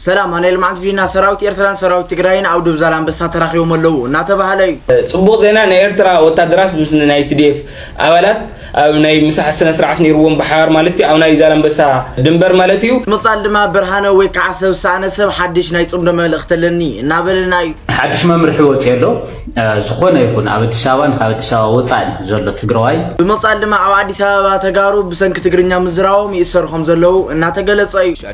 ሰላም ኣነ ልምዓት ቪና ሰራዊት ኤርትራን ሰራዊት ትግራይን ኣብ ዱብ ዛላምበሳ ተራኺቦም ኣለዉ እናተባህለ እዩ። ጽቡቕ ዜና ናይ ኤርትራ ወታደራት ምስ ናይ TDF ኣባላት ኣብ ናይ ምሳሕ ስነ ስርዓት ነይርዎም ብሓባር ማለት እዩ ኣብ ናይ ዛላምበሳ ድንበር ማለት እዩ። ምቕጻል ድማ ብርሃነ ወይ ከዓ ሰብ ዝሰኣነ ሰብ ሓድሽ ናይ ጽምዶ መልእኽቲ ኣለኒ እናበለና እዩ። ሓድሽ መምርሒ ወፂኡ ኣሎ ዝኾነ ይኹን ኣብ ኣዲስ ኣበባን ካብ ኣዲስ ኣበባ ወፃእን ዘሎ ትግራዋይ ብምቕጻል ድማ ኣብ ኣዲስ ኣበባ ተጋሩ ብሰንኪ ትግርኛ ምዝራቦም ይእሰሩ ከም ዘለዉ እናተገለጸ እዩ።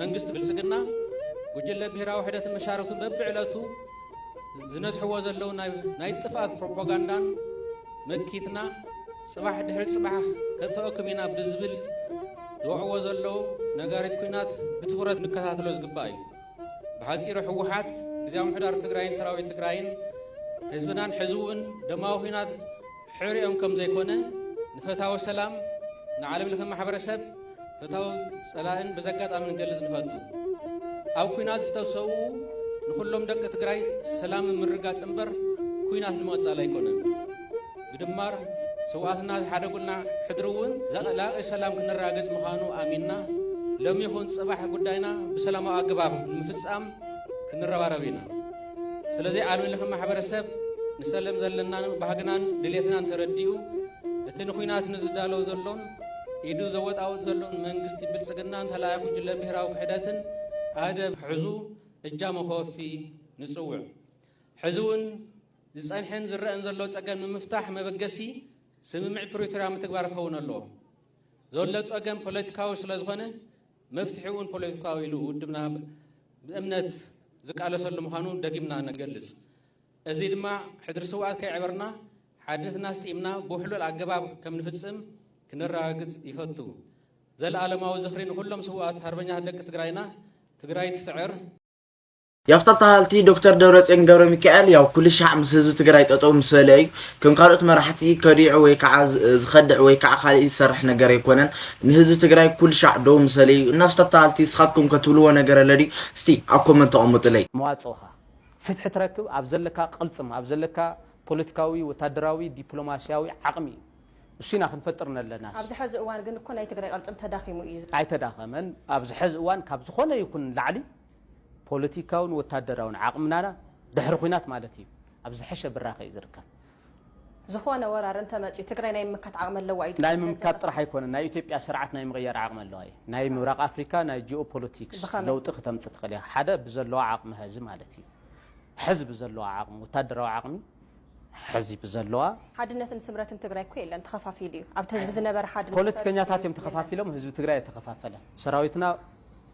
መንግስቲ ብልጽግና ጉጅለ ብሄራዊ ውሕደትን መሻርኽቱን በብዕለቱ ዝነዝሕዎ ዘለዉ ናይ ጥፍኣት ፕሮፓጋንዳን መኪትና ጽባሕ ድሕሪ ጽባሕ ከጥፍኣኩም ኢና ብዝብል ዝወዕዎ ዘለዉ ነጋሪት ኩናት ብትኹረት ንከታተሎ ዝግባእ እዩ። ብሓጺሩ ህወሓት ግዜያዊ ምሕዳር ትግራይን ሰራዊት ትግራይን ህዝብናን ሕዝውን ደማዊ ኩናት ሕርኦም ከም ዘይኮነ ንፈታዊ ሰላም ንዓለም ለኸ ማሕበረሰብ ፈታዊ ጸላእን በዘጋጣሚ ንገልጽ ንፈቱ። ኣብ ኩናት ዝተሰዉ ንኹሎም ደቂ ትግራይ ሰላም ምርጋጽ እምበር ኩናት ንምቕጻል ኣይኮነን። ብድማር ስውኣትና ዝሓደጉልና ሕድሪ እውን ዘላቒ ሰላም ክንራግጽ ምዃኑ ኣሚንና ሎሚ ይኹን ጽባሕ ጉዳይና ብሰላማዊ ኣገባብ ንምፍጻም ክንረባረብ ኢና። ስለዚ ዓለም ለኸ ማሕበረሰብ ንሰለም ዘለናን ባህግናን ድሌትናን ተረዲኡ እቲ ንኹናት ንዝዳለው ዘሎን ኢዱ ዘወጣውጥ ዘሎን መንግስቲ ብልፅግናን ተላኣይ ጉጅለ ብሄራዊ ክሕደትን ኣደብ ሕዙ እጃሞ ከወፊ ንፅውዕ። ሕዚ እውን ዝፀንሐን ዝረአን ዘሎ ፀገም ንምፍታሕ መበገሲ ስምምዕ ፕሪቶሪያ ምትግባር ክኸውን ኣለዎ። ዘሎ ፀገም ፖለቲካዊ ስለዝኾነ መፍትሒኡን ፖለቲካዊ ኢሉ ውድብና ብእምነት ዝቃለሰሉ ምዃኑ ደጊምና ንገልጽ። እዚ ድማ ሕድሪ ስውኣት ከየዕበርና ሓድነትና ኣስጢምና ብውሕሉል ኣገባብ ከም ንፍጽም ክነረጋግጽ ይፈቱ። ዘለኣለማዊ ዝኽሪ ንኹሎም ስውኣት ሃርበኛታት ደቂ ትግራይና! ትግራይ ትስዕር! ያፍታ ተሃልቲ ዶክተር ደብረፅዮን ገብረሚካኤል ያው ኩልሻዕ ምስ ህዝቢ ትግራይ ጠጠው ምስ በለ እዩ ከም ካልኦት መራሕቲ ከዲዑ ወይ ከዓ ዝከድዕ ወይ ከዓ ካሊእ ዝሰርሕ ነገር ኣይኮነን ንህዝቢ ትግራይ ኩልሻዕ ደው ምስ በለ እዩ እና ያፍታ ተሃልቲ ንስካትኩም ከ ትብልዎ ነገር ኣሎ ድዩ እስቲ ኣብ ኮመንት ኣቀሙጥለይ። መዋጽኦኻ ፍትሒ ትረክብ ኣብ ዘለካ ቅልጽም ኣብ ዘለካ ፖለቲካዊ ወታደራዊ ዲፕሎማሲያዊ ዓቅሚ እዩ እሱ ኢና ክንፈጥር ነለና። ኣብዚ ሐዚ እዋን ግን እኮ ናይ ትግራይ ቅልፅም ተዳኺሙ እዩ። ኣይተዳኸመን ኣብዚ ሐዚ እዋን ካብ ዝኾነ ይኹን ንላዕሊ። ፖለቲካውን ወታደራውን ዓቕምና ድሕሪ ኹናት ማለት እዩ ኣብ ዝሐሸ ብራኸ እዩ ዝርከብ። ዝኾነ ወራር እንተመፅዩ ትግራይ ናይ ምምካት ዓቕሚ ኣለዋ እዩ ትብሉ? ናይ ምምካት ጥራሕ ኣይኮነን ናይ ኢትዮጵያ ስርዓት ናይ ምቕያር ዓቕሚ ኣለዋ እዩ። ናይ ምብራቕ ኣፍሪካ ናይ ጂኦ ፖለቲክስ ለውጢ ክተምፅእ ትኽእል እያ። ሓደ ብዘለዋ ዓቕሚ ሐዚ ማለት እዩ ሐዚ ብዘለዋ ዓቕሚ ወታደራዊ ዓቕሚ ሐዚ ብዘለዋ። ሓድነትን ስምረትን ትግራይ እኮ የለን ተኸፋፊሉ እዩ ኣብቲ ህዝቢ ዝነበረ ሓድነት ፈሪሱ እዩ። ፖለቲከኛታት እዮም ተኸፋፊሎም ህዝቢ ትግራይ ኣይተኸፋፈለን። ሰራዊትና።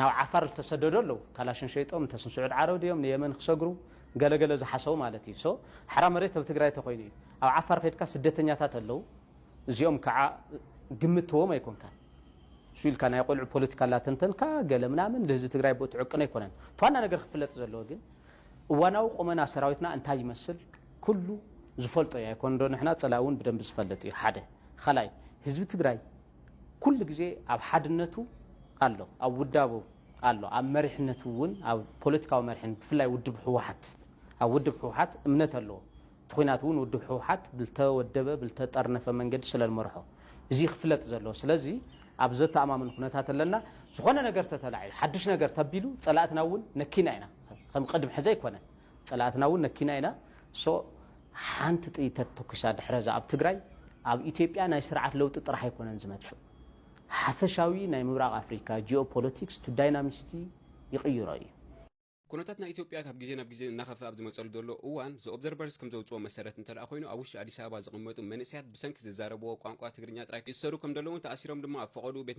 ናብ ዓፋር ልተሰደዱ ኣለዉ ካላሽን ሸይጦም እንተስ ንስዑድ ዓረብ ድዮም ንየመን ክሰግሩ ገለ ገለ ዝሓሰቡ ማለት እዩ so ሓራ መሬት ኣብ ትግራይ ተኮይኑ እዩ ኣብ ዓፋር ከይድካ ስደተኛታት ኣለዉ እዚኦም ካዓ ግምት ትህቦም ኣይኮንካን እሱ ኢልካ ናይ ቆልዑ ፖለቲካ ላተንተንካ ገለ ምናምን ልህዝቢ ትግራይ ብኡ ትዕቅን ኣይኮነን እቲ ዋና ነገር ክፍለጥ ዘለዎ ግን እዋናዊ ቁመና ሰራዊትና እንታይ ይመስል ኩሉ ዝፈልጦ እዩ ኣይኮን ዶ ንሕና ፀላኢ እውን ብደንቢ ዝፈልጥ እዩ ሓደ ካልኣይ ህዝቢ ትግራይ ኩሉ ግዜ ኣብ ሓድነቱ ኣሎ፣ ኣብ ውዳቡ ኣሎ፣ ኣብ መሪሕነቱ እውን ኣብ ፖለቲካዊ መሪሕነት ብፍላይ ውድብ ህወሓት ኣብ ውድብ ህወሓት እምነት ኣለዎ። እቲ ኹናት እውን ውድብ ህወሓት ብልተወደበ ብልተጠርነፈ መንገዲ ስለልመርሖ እዚ ክፍለጥ ዘለዎ ስለዚ ኣብ ዘተኣማምን ኩነታት ኣለና። ዝኾነ ነገር ተተላዒሉ ሓዱሽ ነገር ተቢሉ ፀላእትና እውን ነኪና ኢና ከም ቕድም ሕዚ ኣይኮነን። ፀላእትና እውን ነኪና ኢና so ሓንቲ ጥይት ተትተኩሳ ድሕረዛ ኣብ ትግራይ ኣብ ኢትዮጵያ ናይ ስርዓት ለውጢ ጥራሕ ኣይኮነን ዝመፅእ ሓፈሻዊ ናይ ምብራቅ ኣፍሪካ ጂኦ ፖለቲክስ to dynamisty ይቅይሮ እዩ። ኩነታት ናይ ኢትዮጵያ ካብ ግዜ ናብ ግዜ እናኸፍኣ ኣብ ዝመፀሉ ዘሎ እዋን The Observers ከምዘውፅኦ መሰረት እንተድኣ ኮይኑ ኣብ ውሽጢ ኣዲስ ኣበባ ዝቕመጡ መንእሰያት ብሰንኪ ዝዛረብዎ ቋንቋ ትግርኛ ጥራይ ይእሰሩ ከምደለዉን ተኣሲሮም ድማ ኣብ ፈቐድኡ ቤት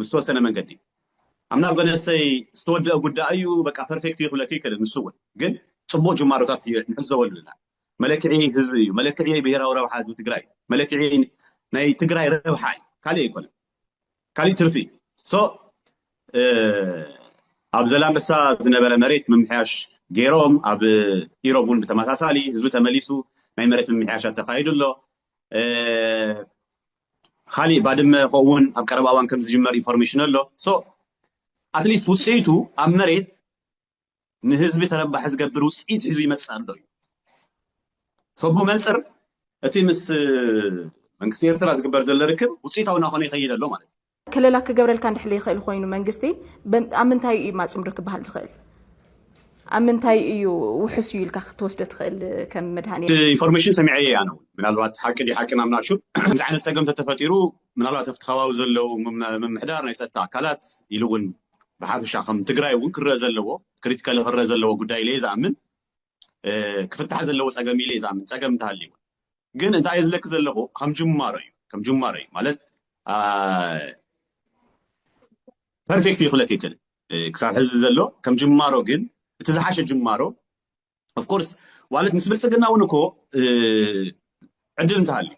ብዝተወሰነ መንገዲ ኣምና በነሰይ ዝተወደአ ጉዳይ እዩ በቃ ፐርፌክት እዩ ክብለክ ይክእል ንሱ እውን ግን ፅቡቅ ጅማሮታት ንዕዘበሉ ኣለና መለክዒ ህዝቢ እዩ መለክዒ ብሄራዊ ረብሓ ህዝቢ ትግራይ እዩ መለክዒ ናይ ትግራይ ረብሓ እዩ ካሊእ ኣይኮነን ካሊእ ትርፊ እዩ ሶ ኣብ ዘላንበሳ ዝነበረ መሬት ምምሕያሽ ገይሮም ኣብ ኢሮብ እውን ብተመሳሳሊ ህዝቢ ተመሊሱ ናይ መሬት ምምሕያሻት ተካይዱ ኣሎ ካሊእ ባድመ ኮኡ ውን ኣብ ቀረባ እዋን ከምዝጅመር ኢንፎርሜሽን ኣሎ so ኣትሊስት ውፅኢቱ ኣብ መሬት ንህዝቢ ተረባሒ ዝገብር ውፅኢት ሒዙ ይመፅእ ኣሎ እዩ so ብመንፅር እቲ ምስ መንግስቲ ኤርትራ ዝግበር ዘሎ ርክብ ውፅኢታዊ ናኾነ ይኸይድ ኣሎ ማለት እዩ። ከለላ ክገብረልካ እንድሕር ይኽእል ኮይኑ መንግስቲ ኣብ ምንታይ እዩ ማፅምዶ ክበሃል ዝኽእል? ኣብ ምንታይ እዩ ውሑስ እዩ ኢልካ ክትወስዶ ትኽእል ከም መድሃኒት? ኢንፎርሜሽን ሰሚዐዮ እየ ኣነ ውን ምናልባት ሓቂ ድዩ ሓቂ ናብ ናሹ ከምዚ ዓይነት ፀገም እንተተፈጢሩ ምናልባት ኣብቲ ከባቢ ዘለው ምምሕዳር ናይ ፀጥታ ኣካላት ኢሉ ውን ብሓፈሻ ከም ትግራይ ውን ክረኣ ዘለዎ ክሪቲካሊ ክረኣ ዘለዎ ጉዳይ ኢለ እየ ዝኣምን ክፍታሕ ዘለዎ ፀገም ኢለ ዛምን ፀገም እንተሃልዩ ግን እንታይ እዩ ዝብለኪ ዘለኹ ከም ጅማሮ እዩ ከም ጅማሮ እዩ ማለት ፐርፌክት እዩ ክብለኪ ይክእል ክሳብ ሕዚ ዘሎ ከም ጅማሮ ግን እቲ ዝሓሸ ጅማሮ ኦፍኮርስ ዋለት ምስ ብልፅግና እውን እኮ ዕድል እንተሃልዩ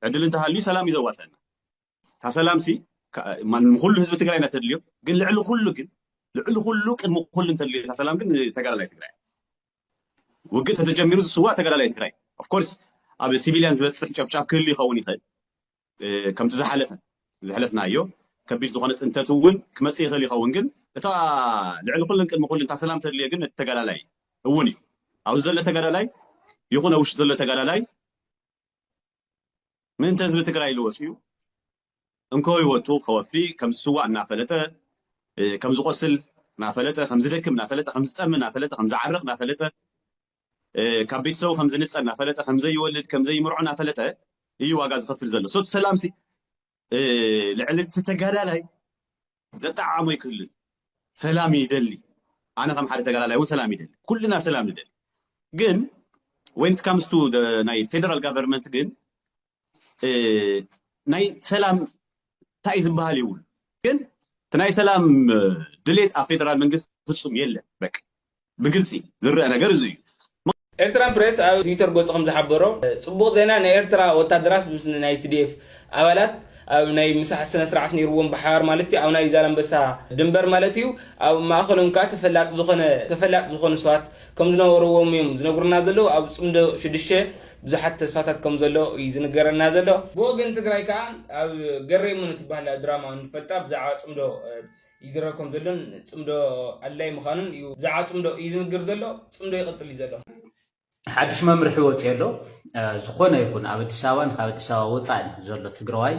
ዕድል እንተሃልዩ ሰላም እዩ ዘዋፀና እታ ሰላምሲ ንኩሉ ህዝቢ ትግራይ ኢና ተድልዮ ግን ልዕሊ ኩሉ ግን ልዕሊ ኩሉ ቅድሚ ኩሉ እንተድልዮ እታ ሰላም ግን ተጋዳላይ ትግራይ ውግእ ተተጀሚሩ ዝስዋእ ተጋዳላይ ትግራይ ኦፍኮርስ ኣብ ሲቪልያን ዝበፅሕ ጨብጫብ ክህሉ ይኸውን ይኽእል ከምቲ ዝሓለፈ ዝሕለፍናዮ ከቢድ ዝኾነ ፅንተት እውን ክመፅእ ይኽእል ይኸውን ግን እታ ልዕሊ ኩሉን ቅድሚ ኩሉ እታ ሰላም ተድልዮ ግን እቲ ተጋዳላይ እውን እዩ ኣብዚ ዘሎ ተጋዳላይ ይኹን ኣብ ውሽጢ ዘሎ ተጋዳላይ ምእንተ ህዝቢ ትግራይ ኢሉ ወፂኡ እንኮ ህይወቱ ከወፊ ከም ዝስዋእ እናፈለጠ ከም ዝቆስል እናፈለጠ ከም ዝደክም እናፈለጠ ከም ዝጠሚ እናፈለጠ ከም ዝዓርቕ እናፈለጠ ካብ ቤተሰቡ ከም ዝንፀል እናፈለጠ ከም ዘይወልድ ከም ዘይምርዖ እናፈለጠ እዩ ዋጋ ዝኸፍል ዘሎ ሶት ሰላምሲ ልዕሊ እቲ ተጋዳላይ ዘጠዓዓሞ ኣይክህሉን። ሰላም ይደሊ፣ ኣነ ከም ሓደ ተጋዳላይ እውን ሰላም ይደሊ፣ ኩልና ሰላም ንደሊ። ግን ወይን ካምስቱ ናይ ፌደራል ጋቨርንመንት ግን ናይ ሰላም እንታይ ዝበሃል ይብሉ ግን እቲ ናይ ሰላም ድሌት ኣብ ፌደራል መንግስቲ ፍፁም የለን። በቃ ብግልጺ ዝርኣ ነገር እዚ እዩ። ኤርትራን ፕሬስ ኣብ ትዊተር ገጹ ከም ዝሓበሮ፣ ጽቡቕ ዜና ናይ ኤርትራ ወታደራት ምስ ናይ ትዲኤፍ ኣባላት ኣብ ናይ ምሳሕ ስነስርዓት ነይርዎም ብሓባር ማለት እዩ ኣብ ናይ ዛላምበሳ ድንበር ማለት እዩ ኣብ ማእከሎም ከኣ ተፈላጢ ዝኾነ ተፈላጢ ዝኾኑ ሰባት ከም ዝነበርዎም እዮም ዝነግሩና ዘለዉ ኣብ ጽምዶ ሽዱሽተ ብዙሓት ተስፋታት ከም ዘሎ እዩ ዝንገረና ዘሎ ብወገን ትግራይ ከኣ ኣብ ገሬ እሞ ንትበሃል ድራማ ንፈልጣ ብዛዕባ ጽምዶ ይዝረብ ከም ዘሎን ጽምዶ ኣድላዪ ምዃኑን እዩ። ብዛዕባ ጽምዶ እዩ ዝንግር ዘሎ፣ ጽምዶ ይቕጽል እዩ ዘሎ። ሓድሽ መምርሒ ወፂኦ ኣሎ ዝኾነ ይኹን ኣብ ኣዲስ ኣበባን ካብ ኣዲስ ኣበባ ወፃእን ዘሎ ትግራዋይ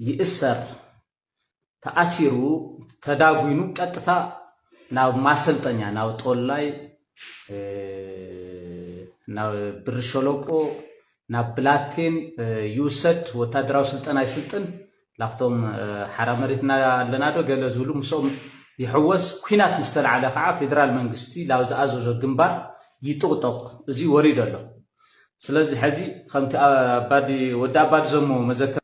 ይእሰር ተኣሲሩ ተዳጒኑ ቀጥታ ናብ ማሰልጠኛ ናብ ጦላይ ናብ ብሪ ሸለቆ ናብ ብላቴን ይውሰድ ወታደራዊ ስልጠና ይስልጥን ላፍቶም ሓራ መሬትና ኣለና ዶ ገለ ዝብሉ ምስኦም ይሕወስ ኩናት ምስ ተላዕለ ከዓ ፌደራል መንግስቲ ላብ ዝኣዘዞ ግንባር ይጥቕጦቕ እዙይ ወሪዶ ኣሎ ስለዚ ሐዚ ከምቲ ኣባዲ ወዲ ኣባዲ ዘሞ መዘከር